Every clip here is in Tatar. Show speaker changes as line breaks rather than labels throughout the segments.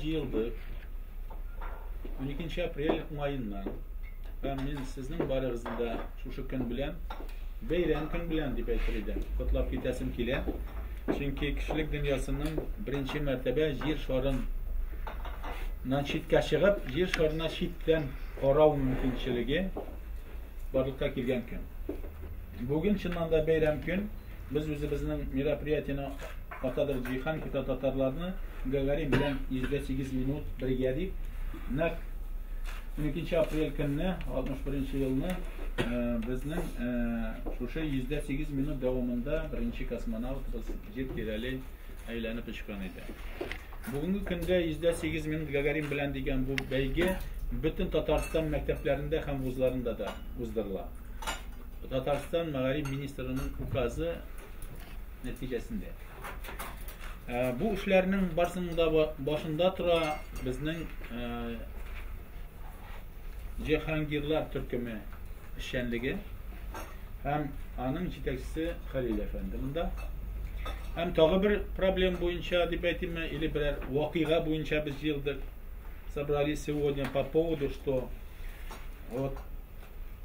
җыелдык. 12 апрель уңаеннан. Һәм мин сезнең барыгызны да шушы көн белән, бәйрәм көн белән дип әйтер идем, котлап китәсем килә. Чөнки кешелек дөньясының беренче мәртәбә җир шарын нан читкә чыгып, җир шарына читтән карау мөмкинчелеге барлыкка килгән көн. Бүген чыннан да бәйрәм көн, Без үзебезнең мероприятиене атадык Җиһан көтә татарларны, Гагарин белән 108 минут бергә дип. Нәкъ 12 апрель көнне, 61 елны безнең шушы 108 минут дәвамында беренче космонавтыбыз җир тирәли әйләнеп очкан иде. Бүгенге көндә 108 минут Гагарин белән дигән бу бәйге бөтен Татарстан мәктәпләрендә һәм вузларында да уздырыла. Татарстан мәгариф министрының указы нәтиҗәсендә. Ә, бу эшләрнең барсының да башында тора безнең ә, Җиһангирлар төркеме эшчәнлеге һәм аның җитәкчесе Хәлил әфәнде монда. Һәм тагы бер проблем буенча дип әйтимме, или берәр вакыйга буенча без җыелдык. Собрались сегодня по поводу, что вот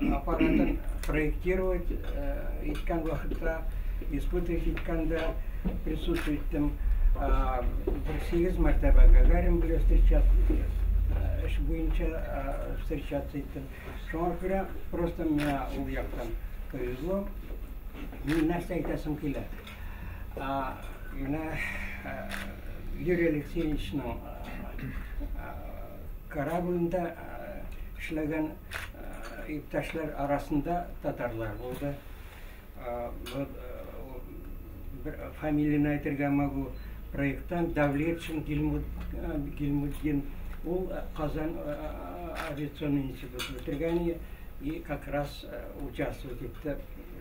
аппаратын проектировать иткән вакытта испытывать иткәндә присутствие иттем бер сигез мәртәбә гагарин белән встреча эш буенча встречаться иттем шуңа күрә просто миңа ул яктан повезло мин нәрсә әйтәсем килә Менә Юрий Алексеевичның кораблендә эшләгән иптәшләр арасында татарлар булды. Бер фамилияне әйтергә могу. Проекттан Давлетшин Гилмутдин. Ул Казан авиационный институт бетергән и как раз участвовать итте.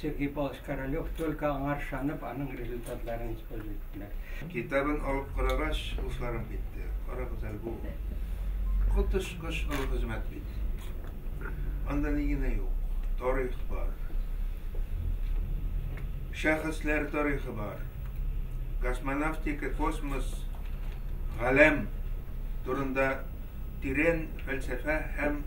Сергей Павлович Королёв только аңар ышанып, аның результатларын использовать иттеләр. Китабын
алып карагач, хушларым китте. Карагыз әле бу коточкыч олы хезмәт бит. Анда ни генә юк. Тарих бар. Шәхесләр тарихы бар. Космонавтика, космос, галәм турында Тирән фәлсәфә һәм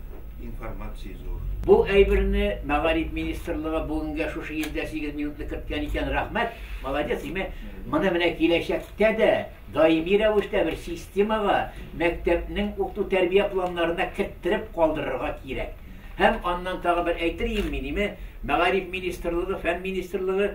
информация зур. Бу әйберне
мәгариф министрлыгы бүгенгә шушы ирдә сигез минутны керткән икән, рәхмәт, молодец, име, моны менә киләчәктә дә даими рәвештә бер системага, мәктәпнең укыту тәрбия планнарына керттереп калдырырга кирәк. Һәм аннан тагы бер әйтер идем мин, име, мәгариф министрлыгы, фән министрлыгы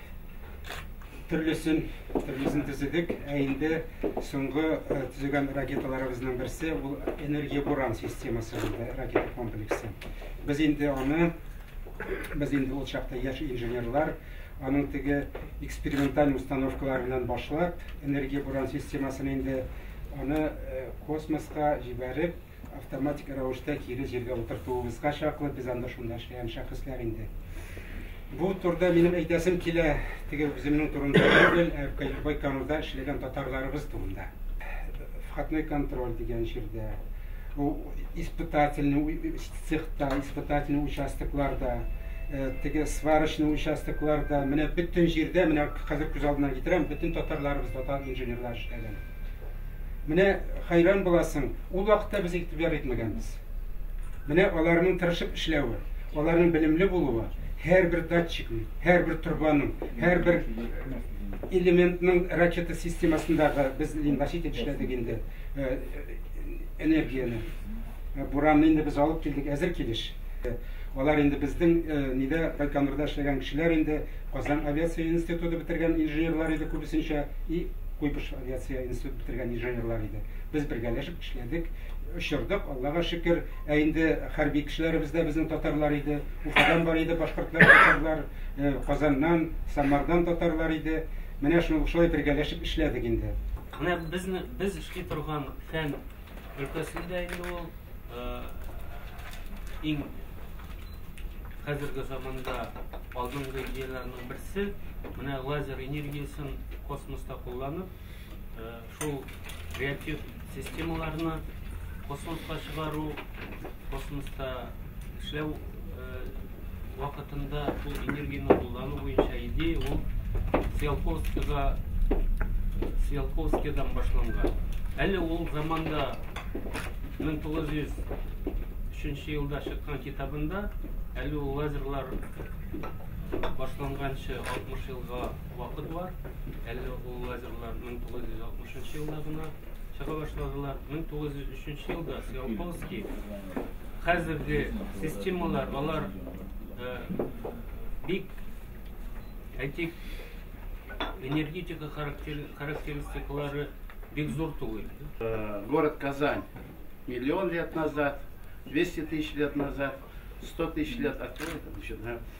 төрлесен төрлесен төзедек ә инде соңгы төзегән ракеталарыбызның берсе ул энергия буран системасы булды ракета комплексы без инде аны без инде ул чакта яшь инженерлар аның теге эксперименталь установкалар белән башлап энергия буран системасын инде аны космоска җибәреп автоматик рәвештә кире җиргә утыртуыбызга чаклы, без анда шунда эшләгән шәхесләр инде. Бу турда минем әйтәсем килә, теге үземнең турында түгел, ә Кайбай Кануда эшләгән татарларыбыз турында. Входной контроль дигән җирдә, ул испытательный цехта, испытательный участокларда, э, теге сварочный участокларда, менә бөтен җирдә, менә хәзер күз алдына китерәм, бөтен татарларыбыз, татар инженерлар эшләгән. Менә хәйран буласың, ул вакытта без игътибар итмәгәнбез. Менә аларның тырышып эшләве, аларның белемле булуы, һәрбер датчикның, һәрбер торбаның, һәрбер элементның ракета системасындагы без лингваст итеп эшләдек инде энергияне. Буранны инде без алып килдек, әзер килеш. Алар инде безнең нидә Байконурда эшләгән кешеләр инде Казан авиация институты бетергән инженерлар иде күбесенчә и Куйбыш авиация институты бетергән инженерлар иде. Без бергәләшеп эшләдек, очырдык, Аллага шөкер. Ә инде хәрби кешеләребез дә безнең татарлар иде. Уфадан бар иде башкортлар, татарлар, Казаннан, Самардан татарлар иде. Менә шул шулай бергәләшеп эшләдек инде. Менә безне
без эшли торган фән өлкәсендә инде ул иң хәзерге заманда алдынгы идеяләрнең берсе менә лазер энергиясен космоста кулланып шул реактив системаларны космосқа чыгару космоста эшләү вакытында шул энергияне куллану буенча идея ул Циолковскийга Циолковскийдан башланган. Әле ул заманда 1903 елда чыккан китабында әле ул лазерлар башланганчы 60 елга вакыт бар. Әле ул лазерлар 1960 елда гына чыга башладылар. 1903 елда Циолковский Хәзерге системалар, алар э, бик, әйтик, энергетика характеристикалары бик зур түгел. Э, город
Казань миллион лет назад, 200 тысяч лет назад, 100 тысяч лет, а кто это, значит,